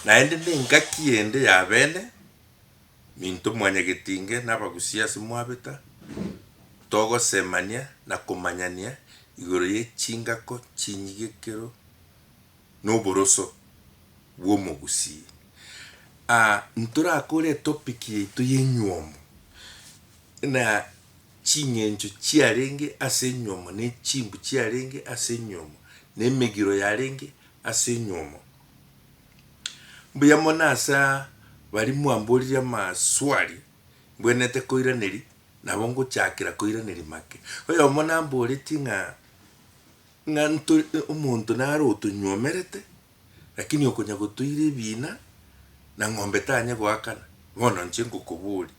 Naende nengaki ende ya bene minto mwanyagetinge nabagusie ase mwabeta, togosemania na komanyania igoro ye chingako chinyige ekero noboroso bw'omogusii. Aa ntorakore etopic yaito y'enywomo na ching'encho chiarenge ase enywomo ne chimbu chiarenge ase enywomo na emegiro yarenge ase enywomo. Mbuya mono ase baria mwamboririe amaswali mbwenerete koiraneria, nabo ngochakera koiraneria make. Oyomo namboretie ng'a ng'a nto omonto naro otonywomerete, lakini okonya gotoira ebiina na ng'ombe tanya goakana, bono inche ngokoboria.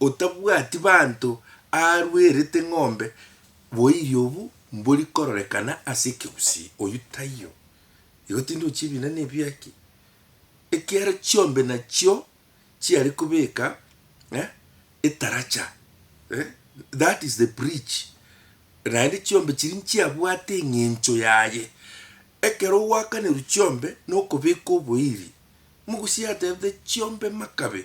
Otabwati banto aarwerete ng'ombe boiri obu mbori kororekana ase ekegusii, oyio taiyo. Igo tindi ochia ebina nebiaki, ekiagera chiombe nachio chiare kobeka eh etaracha eh that is the bridge, naende chiombe chiria nchiabwate eng'encho yaye. Ekero ogwakanerwa chiombe nokobeka oboiri, mogusi atebete chiombe makabe.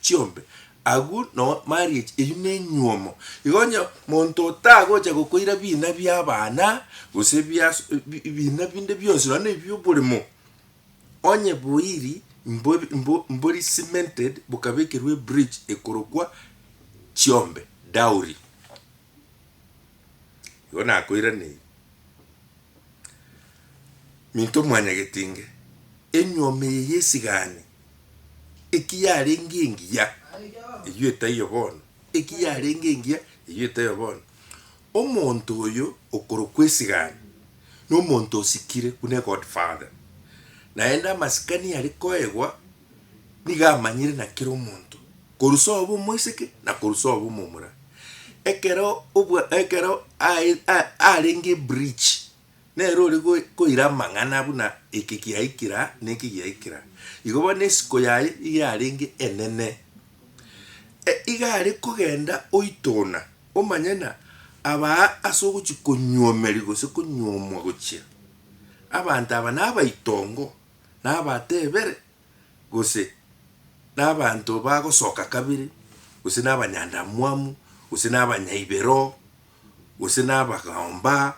chiombe, agwo noo marriage eywo nenywomo, igo onye monto otagocha gokoira bina biabana, gose bias bina binde bionsi nonya na ebioboremo, onye boiri mbo mbo mbori cemented bokabekerwa ebridge ekorokwa chiombe, dowry. Igo nakoiraneiri, Minto mwanyagetinge, enyuoma eye y'esigani, eki yarenge engiya, eyio etaiyo bono, eki yarenge engiya, eyio etaiyo bono. Omonto oyo okorokwa esigani, na omonto osikire buna egodfather, naende amasikani are koegwa nigo amanyire na kera omonto. Korusa obe omoiseke, na korusa obe omomura. Ekero obwa, ekero ae, a, arenge ebridge, nere ore go- koira amang'ana buna eke giaikira na eke giaikira. Igo bono esiko yaye nigo yarenge enene. E, iga are kogenda oitona, omanye ng'a abaa ase ogochi konyuomeria gose konyuomwa gochia, abanto aba nabaitongo, nabatebere, gose nabanto bagosoka kabere, gose nabanyandamwamu, gose nabanyaibero, gose nabagaomba,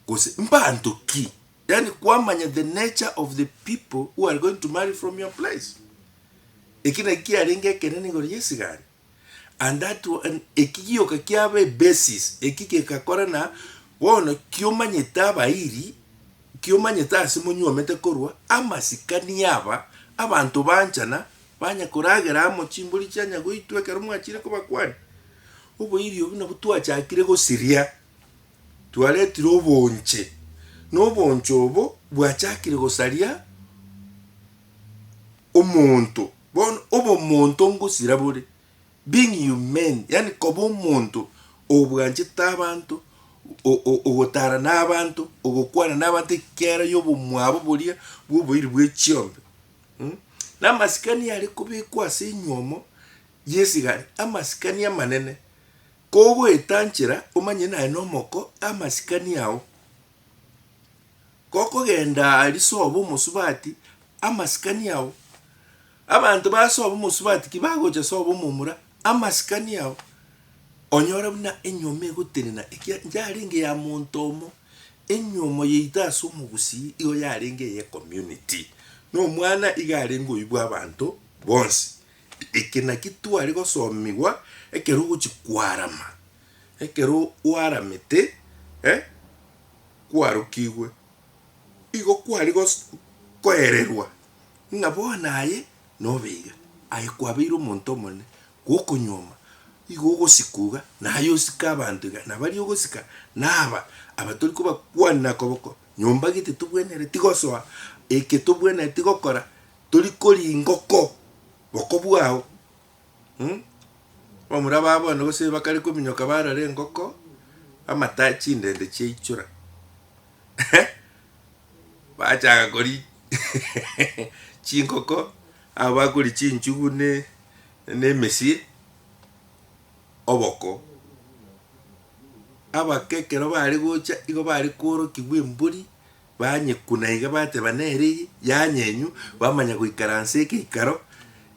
gose mbanto ki, yaani kwamanya the nature of the people who are going to marry from your place. Eki nakio kiarenge ekenene igoro y'esigari. And that one eki gioka kiaba e basis eki gekakora na bono kiomanyete abairi kiomanyete ase monyuomete korwa amasikani aba abanto banchana banya koragera amo chimbori chianya goitwa ekero mwachire kobakwani oboiri obwo nabwo twachakire gosiria twaretire obonche na obonche obo bwachakire gosaria Omonto, bono obomonto ngosira bore, being humane, yaani koba omonto obwanchete abanto, o- o- ogotara nabanto, ogokwana nabanto ekiagera yobomwabo boria bw'oboiri bwe chiombe. Mh, na amasikani are kobekwa ase enywomo y'esigari, amasikani amanene, kogoetanchera omanye naye nomoko amasikani ao. Gokogenda aria soba omosubati amasikani ao, abanto basoba omosubati kibagocha soba omomura amasikani ao, onyore buna enyomo egotenena ekiagera yarenge ya monto omo, enyomo yaito ase omogusii igo yarenge eye community. Na omwana iga arenge oyio bwa abanto bonsi. Eke naki tware gosomigwa ekero ogochi kwarama, Ekero gwaramete, e, kwarokigwe, igo kware gos, koererwa ng'a bono aye nobe iga, aye kwabeire omonto omonene, gwokonyuoma, igo ogosika iga, naye osike abanto iga, na baria ogosika naba aba tori kobakwanera koboko nyomba gete tobwenereti gosoa, eke tobwenereti gokora, tori koringa oko boko bwao. Mh. Bamura babo bono gose bakare kominyoka barara engoko, amata chindende chiaichora bachaka kori chingoko, aba bakori chinchugu ne ne emesie, oboko. Abake ekero bare gocha igo bare koorokigwa embori. Banyeku na iga bateba nere eye, Yanyenywa, bamanya goikaransa egeikaro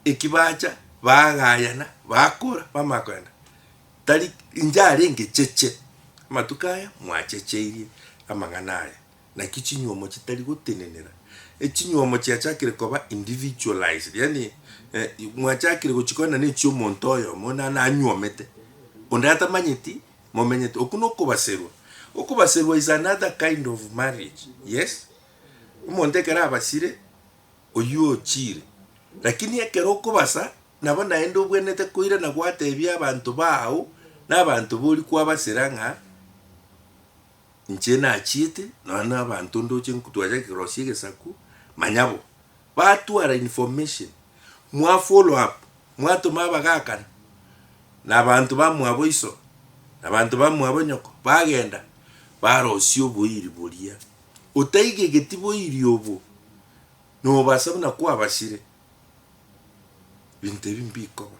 eki bacha, bagayana, bakora, bamanya kogenda. Tari inche arenge cheche amatuko aya mwachecheirie amang'ana aya, naki chinyuomo chitari gotenenera, echinyuomo chiachakire koba individualized, yaani mwachakire gochikora nane echi'omonto oyomo, onde nanyuomete, onde atamanyeti Momenyete. Okwo nokobaserwa. Okobaserwa is another kind of marriage. Yes. Omonto ekero abasire, oyio ochiire. Lakini ekero okobasa, nabo naende obwenerete koirana gwatebia abanto baao, na abanto bori kwabasera ng'a. Inche nachiete, nonya nabanto ndoche nkutwacha kerosia egesaku, manyabo, batwara information, mwa follow up, mwatoma abagakana, nabanto bamwabo iso, nabanto bamwabo nyoko, bagenda barosia oboiri boria, otaigegeti boiri obo, nobasa buna kwabasire, binto ebi mbikoba.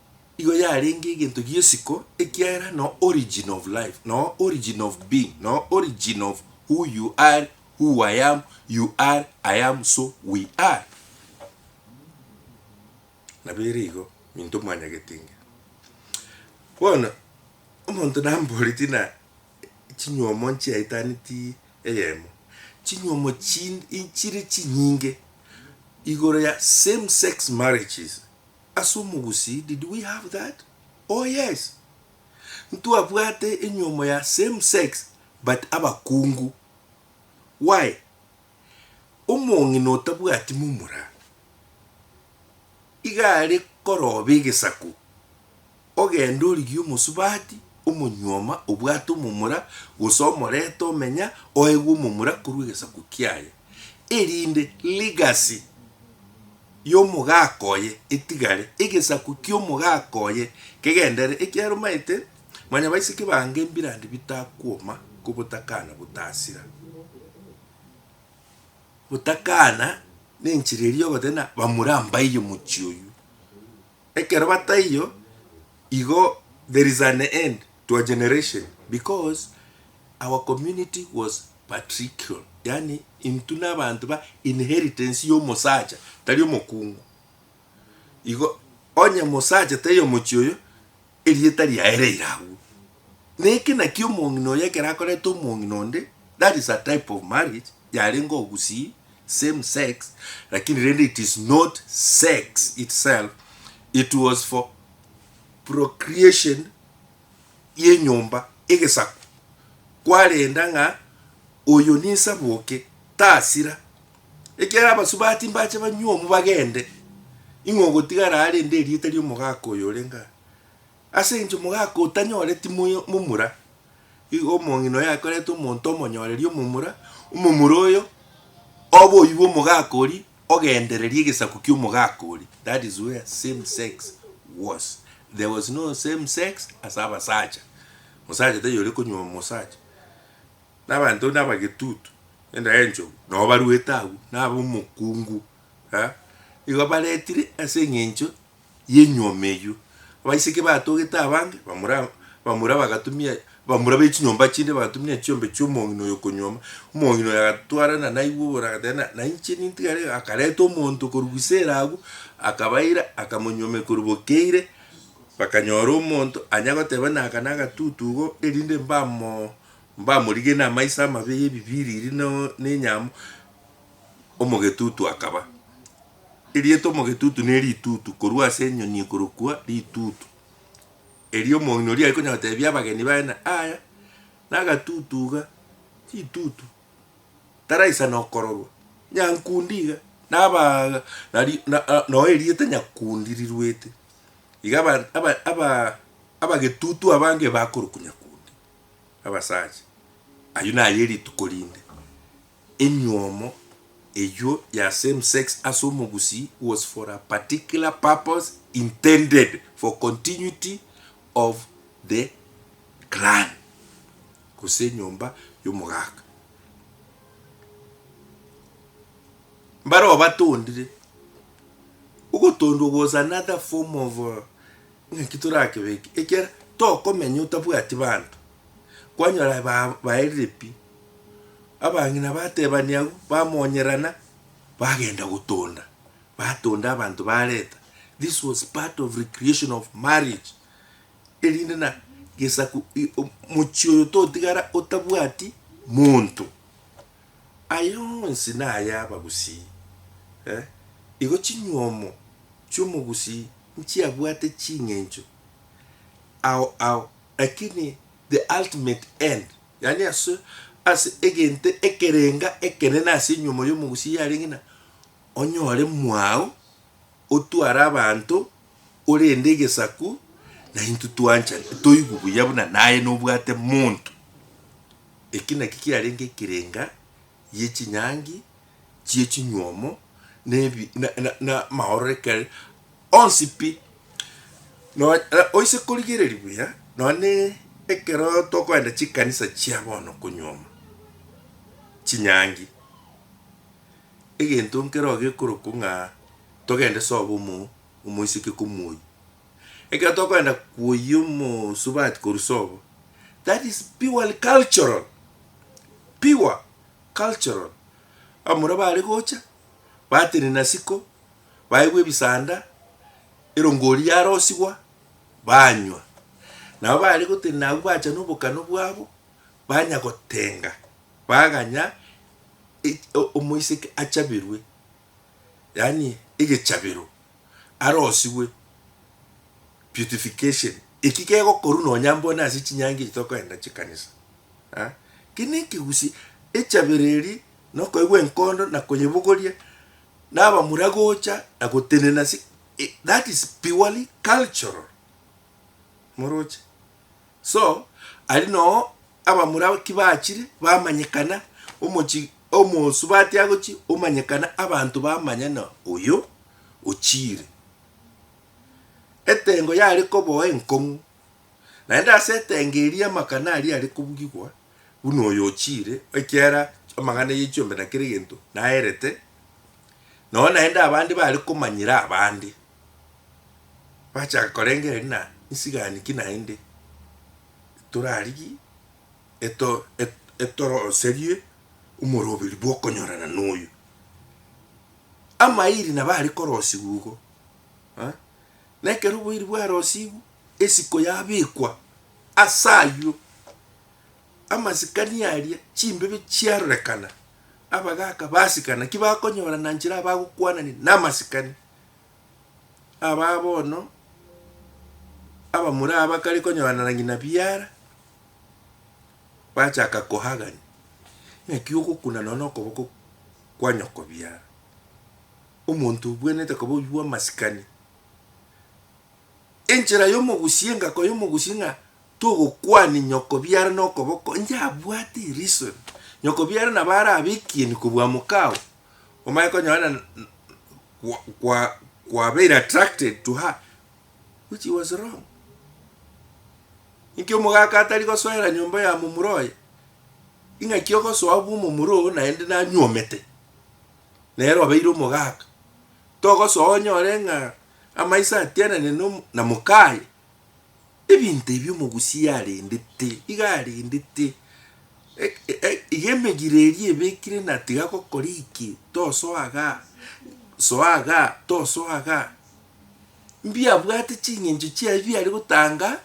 Nigo yarenge egento gi'esiko, ekiagera no origin of life, no origin of being, no origin of who you are, who I am, you are, I am, so we are. Nabo ere igo minto mwanyagete inge. Bono omonto namboreti ng'a chinywomo nchiaitaneti eyemo, chinywomo chinde inchire chinyinge igoro ya same sex marriages. Ase omogusii did we have that? Oh yes! Ntwabwate enyuomo ya same sex but abakungu. Why? Omong'ina otabwati momura iga are koroba egesaku Ogende origie omosubati, omonyuoma, obwate omomura, gose omorete omenya, oegwe omomura korwa egesaku kiaye, erinde legacy y'omogaaka oye etigare, egesaku ki'omogaaka oye kegenderere, ekiagera omaete mwanyabaiseke bange embirandi bitakwoma ko botakana botasira. Botakana nenchera eria ogoteba ng'a bamura mbaiyo mochie oyio. Ekero bataiyo, igo there is an end to a generation because our community was patriarchal, yaani intwe nabanto ba inheritance yomosacha tari omokungu. Igo onye mosacha taiyo mochie oyo, Erieta riaye reire agwo. Na eke nakio omong'ina oyo ekero akoreta omong'ina onde, that is a type of marriage, yarenge ogusii, same sex, lakini rende it is not sex itself, it was for procreation y'enyomba, egesaku, kwarenda ng'a oyo ninsaboke, tasira, Ekiagera abasubati mbache banywe omu bagende, ing'we ogotigara aa rende erieta ri'omogaaka oyo orenge aa. Ase enchio omogaaka otanyore timoyo momura, igo omong'ina oyo akorete omonto omonyoreri omomura, omomura oyo obe oyio bw'omogaaka oria, ogendererie egesaku ki'omogaaka oria, that is where same sex was, there was no same sex ase abasacha, mosacha taiyo ore konywa omosacha. na abanto nabagetutu, endagera enchogu, nao baruete agwo, na abomokungu, eh, nigo baretire ase eng'encho y'enyuoma eyio. Abaiseke batogete abange, bamura bamura bagatumia bamura be chinyomba chinde bagatumia chiombe chi'omong'ina oyo okonyuoma, omong'ina oyo agatwarana naigwe igoro agateba na nainche nintigare iga, akareta omonto korwa Gisela agwo, akabaira akamonyuomia korwa bokeire, bakanyora omonto anya goteba naka nagatutu igo, erinde mbamoo Mbamorigire namaiso amabe y'ebibiriri na nenyamo, omogetutu akaba. Erieta omogetutu ne ritutu, korwa ase enyoni ekorokwa ritutu. Erio omong'ina oria aikonyara gotebia abageni baye ng'a aya nagatutu iga, ritutu, taraisana okororwa, nyankundi iga, nabaa nari na noo erieta nyakundi riruete. Iga aba aba abagetutu abange bakorokwa nyakundi. abasacha. Ayio naye rituko rinde emiomo eyio ya same sex ase omogusii was for a particular purpose intended for continuity of the clan gose enyomba y'omogaka. Mbare obatondire, ogotondwa was another form of. Inki torakebeke ekiagera tokomenya otabwati banto? Kwanyora ba baerire pi, abang'ina batebania agwo, bamonyerana, bagenda gotonda, batonda abanto bareta, this was part of recreation of marriage, erinde na gesaku i- o- mochie oyo totigara otabwati monto. Aya onsi naya abagusii, eh, igo chinyuomo chi'omogusii nchiabwate ching'encho ao ao, lakini the ultimate end, yaani ase ase egento ekerenga ekenene ase enyuomo y'omogusii yarenge ng'a onyore mwao, otware abanto, orende egesaku, naintwe twanchani toigwe buya buna naye nobwate monto. Eki nakio kiarenge ekerenga gie chinyangi chie chinyuomo na ebi na na amaororeke onsi pi. Nonya oise korigereria buya nonya ekero tokoenda chikanisa chia bono konyuoma chinyangi, egento nkero gekorokwa ng'a togende sobo omo omoiseke komoyia. Ekero tokoenda koyia omosubati korwa sobo, that is purely cultural, pure cultural, abamura bare gocha, batenena siko, baegwa ebisanda, erongo oria yarosigwa, banywa. Nabo bare gotenena abwo bacha na obokano bwabo, banya gotenga, baganya e- o- omoiseke achaberwe. yaani egechabero, arosigwe, purification, eki kegokorwa nonya mbone ase chinyangi echi tokoreta chikanisa. Aa ki nekegusii, echabero eria nokoigwa enkondo na konyebugoria na abamura gocha na gotenena ase that is purely cultural, moroche. So, aria noo abamura kibachire bamanyekana, omochi omosubati agochi omanyekana abanto bamanya na oyo ochiire. Etengo yare koboa enkong'u, naende ase etengo eria amakana aria are kobugigwa buna oyo ochiire, ekiara amang'ana ye chiombe na kera egento naerete, noo naende abande bare komanyera abande. bachaka korengereria ng'a nsigani ki naende torarigie eto etoroserie omoroberi bw'okonyorana noyo. Amairi nabo are korosigwa igo eh, na ekero oboiri bwarosigwe, esiko yabekwa as'aywo, amasikani aria chimbebe chiarorekana, abagaka basikana, naki bakonyorana nchera abagokwanania namasikani. abaa bono abamura abakare konyoanana ng'ina biara, bachaka kohagani, naki ogokuna nonya nokoboko kwa nyoko biara. Omonto obwenerete koba oywo bwamasikani. Enchera yomogusie engako yomogusie ng'a togokwania nyoko biara nokoboko, inche abwate reason, nyoko biara nabo arabe ekieni kobua mokao. omanye konyorana kwa kwabeire attracted to her which he was wrong. Inki omogaka atari gosoera nyomba ya momura oye? Ing'aki ogosoa bwa omomura oo naende nanyuomete, nere obeire omogaka, togosoa onyore ng'a amaiso atianane na mokaye. Ebinto ebi omogusia arendete, iga arendete, iga emegiro eria ebekire na tiga gokora eki, tosoa iga, soa iga, tosoa iga, mbiabwate ching'encho chiaye biare gotanga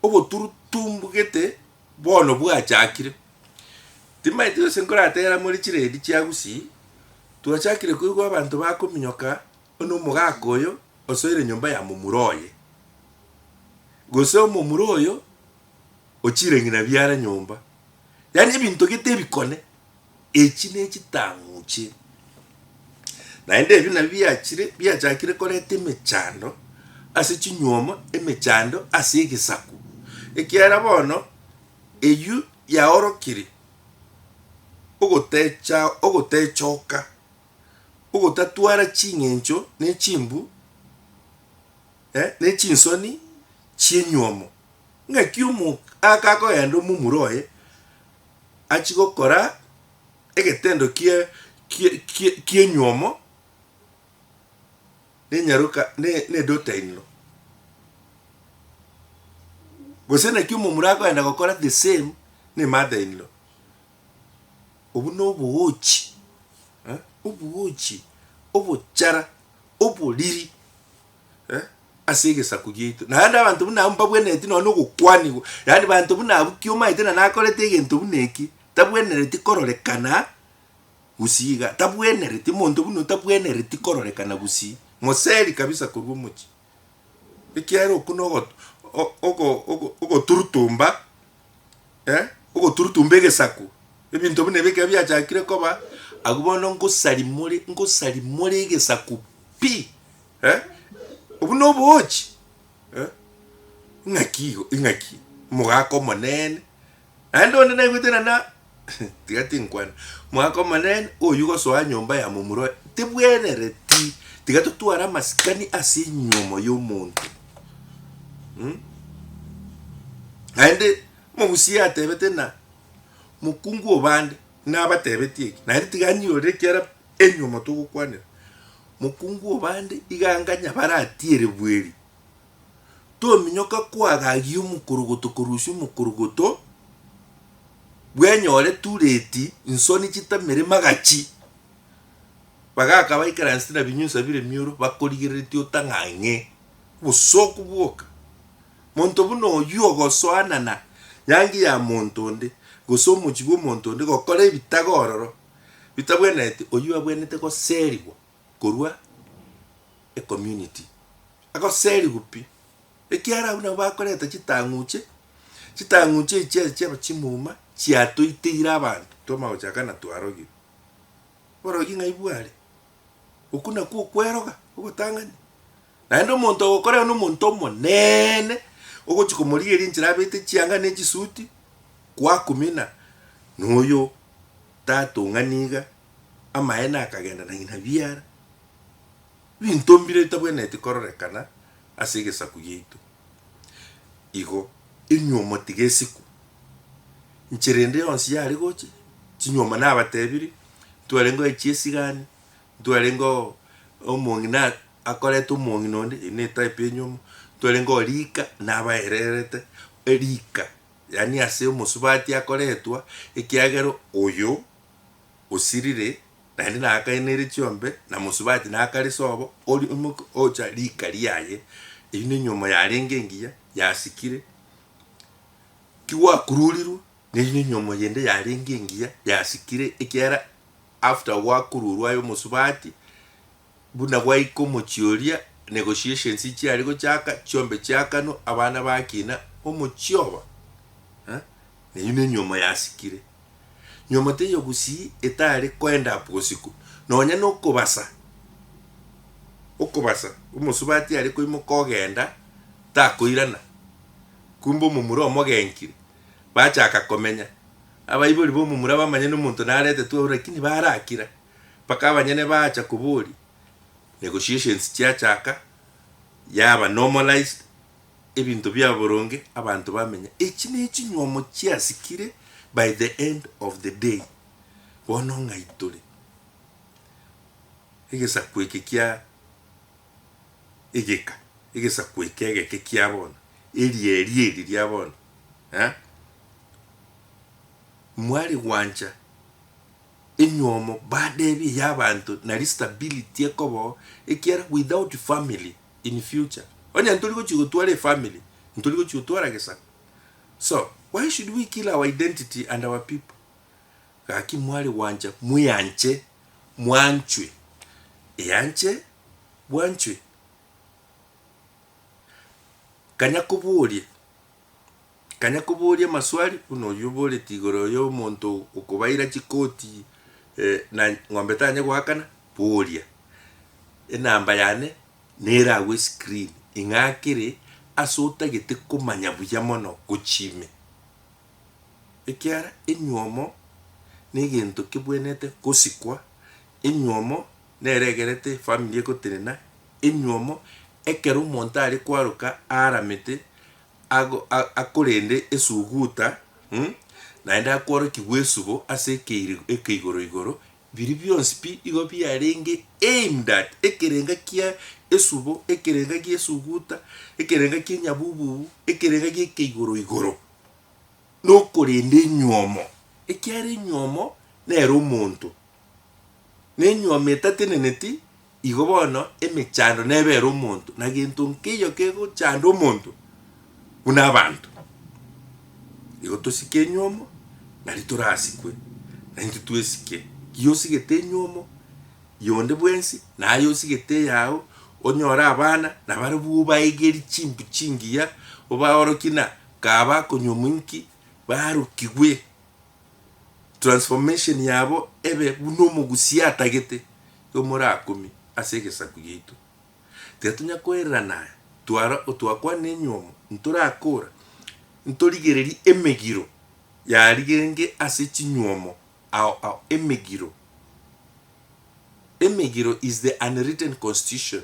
oboturutu mbugete bono bwachakire. Timanyeti gose nkorategera more chiredi chia gusii, twachakire koigwa abanto bakominyoka. Bono omogaka oyo osoire nyomba ya momura oye, gose omomura oyo o chirang'ina biare nyomba, yaani ebinto gete ebikone, echi nechitang'u chie. Naende ebi nabio biachire biachakire koreta emechando ase chinyuoma, emechando ase egesaku, ekiagera bono eywo yaorokire ogotecha ogotechoka. ogotatwara ching'encho ne chimbu, ne chinsoni chi'enyuomo. Ng'aki omogaka akogenda omomura oye, achie gokora egetendo ki'enyuomo nedota inlo, gose naki omomura akogenda gokora the same ne mother inlo. Obwo nobogoochi, eh, obogoochi, obochara, oboriri, eh, ase egesaku giaito. Naende abanto buna abwo mbabwenereti nonye na ogokwanigwa, yaani banto buna abwo ki omanyete na nakorete egento buna eki, tabwenereti kororekana gusii iga, tabwenereti, omonto buna oyio tabwenereti kororekana gusii, moseri kabisa korwa omochie. Ekiagera okwo nogo ogo ogo ogoturutumba eh, ogoturutumba egesaku, ebinto buna ebi ekero biachakire koba, abwo bono ngosarimore ngosarimore egesaku pi eh, obwo na oboochi eh, ng'aki igo ing'aki, omogaka omonene. Naende onde naigwete na na tiga tinkwana. Mwaka omonene oyio gosoa nyomba ya momura oye tibwenereti, tiga totware amasikani ase enyomo y'omonto. Mm? Naende mogusia atebete na mokungu obande nabatebetie eki, naende tiga anyorere ekiara enyomo togokwanera. Mokungu obande iga anganya baratiere bweri. tominyoka koagagia omokorogoto korusia omokorogoto, bwenyore tureti, insoni chitamere magachi, bagaka baikaransete na binyunsa bire mioro bakorigereretie otang'ang'e obosooku bwoka. Monto buna oyio ogosoanana yangi ya monto onde, gose omochie bw'omonto onde gokora ebitaga ororo bitabwenereti, oyio abwenerete goserigwa. korwa ecommunity agoserigwe pi ekiara abwo nabo bakoreta chitang'uche, chitang'uche echi chiaye chiaba chimuma chiatoiteire abanto twamanya gochaka ng'a twarogire. Oborogi ng'ai bware? Okwo nakwo okweroga ogotang'ani. Naende omonto ogokorera nomonto omonene, ogochia komorigeria enchera abete chianga ne chisuti, kwakumina, noyo tatong'ani iga, amaene akagenda na ng'ina biara. Ebinto mbire bitabwenereti kororekana ase egesaku giaito. Igo, enyuomo tigesikwa. Nchera ende yonsi yare gocha, chinyuomo nabatebirie, ntwarenge gocha chiesigani, ntwarenge oo omong'ina akorete omong'ina onde eyi ne type enyomo, ntwarenge oo rika nabaererete erika yaani ase omosubati akoretwa ekiagera oyo osirire naende nakaenire chiombe na mosubati nakare sobo ori omoka ocha rika riaye eywo ne enyomo yarenge engiya yasikire kigwakururirwe neywo ne enyomo yende yarenge engiya yasikire ekiagera. After gwakururwa aye omosubati, buna gwaika omochie oria, negotiations nchiare gochaka, chiombe chiakanwa, abana bakina, omochie oba eh, neyio nenyuomo yasikire. Nyuomo teiyo gusii etare koend up bosiko, nonya nokobasa, okobasa, omosubati are koimoka ogenda, takoirana, kumbe omomura omogenkire, bachaka komenya, Abaibori b'omomura bamanya nomonto naretetwe oo lakini barakira mpaka abanyene baacha koboria negotiations chiachaka yaba normalized ebinto biaba boronge abanto bamenya echi nechinywomo chiasikire by the end of the day bono ng'ai tore egesaku eke kia egeka egesaku eke egeke kiabono eria eria eri riabono. eh, mwari gwancha enywomo badebi yabanto nari stability ekobo ekiara without family in future onye ntori gochi gotwara efamily ntori gochi gotwara gesaku so why should we kill our identity and our people gaki mwari gwancha mweanche mwanchwe eanche bwanchwe kanya koboria Kanya koboria amaswali buna oyio oboreti igoro yo omonto okobaira chikoti na ng'ombe tanye goakana, boria, Enamba yane nere agwo escreen ing'akere ase otagete komanya buya mono gochia ime? Ekiara enyuomo negento kebwenete gosikwa, enyuomo nere egerete efamiri egotenena. Enyuomo, ekero omonto are kwaroka aaramete, ago, a, akorende esuguta, um, naende akworokigwa esubo ase ekeiri, ekeigoro igoro, biria bionsi pi igo biarenge aimed at ekerenga kia esubo, ekerenga gie esuguta, ekerenga kie enyabububu, ekerenga gie ekeigoro igoro, nokorenda enyuomo. Ekiara enyuomo nere omonto, Nenyuoma etateneneti, igo bono emechando nebe ere omonto, na gento nkeiyo kegochanda omonto buna abanto. Igo tosike enyuomo, nari torasikwe, na intwe twesike. Ki osigete enyuomo yonde bwensi, na aye osigete eyao, onyore abana, na barabwo obaegerie chimbu chingiya, obaorokie na kaba akonyuomu inki, barokigwe. transformation yabo ebe buna omogusia atagete yomora akumie ase egesaku giaito. Tiga tonya koererana aya, twara otwakwana enyuomo ntorakora, ntorigererie emegiro yarigenge ase chinyuomo ao ao emegiro. Emegiro is the unwritten constitution.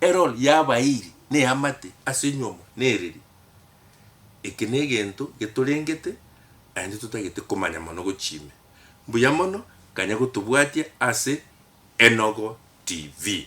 Error yabairi neamate ase nyuomo nereri. Eke negento getorengete naende totagete komanya mono gochia ime. Mbuya mono kanya gotobwatia ase Enogo TV.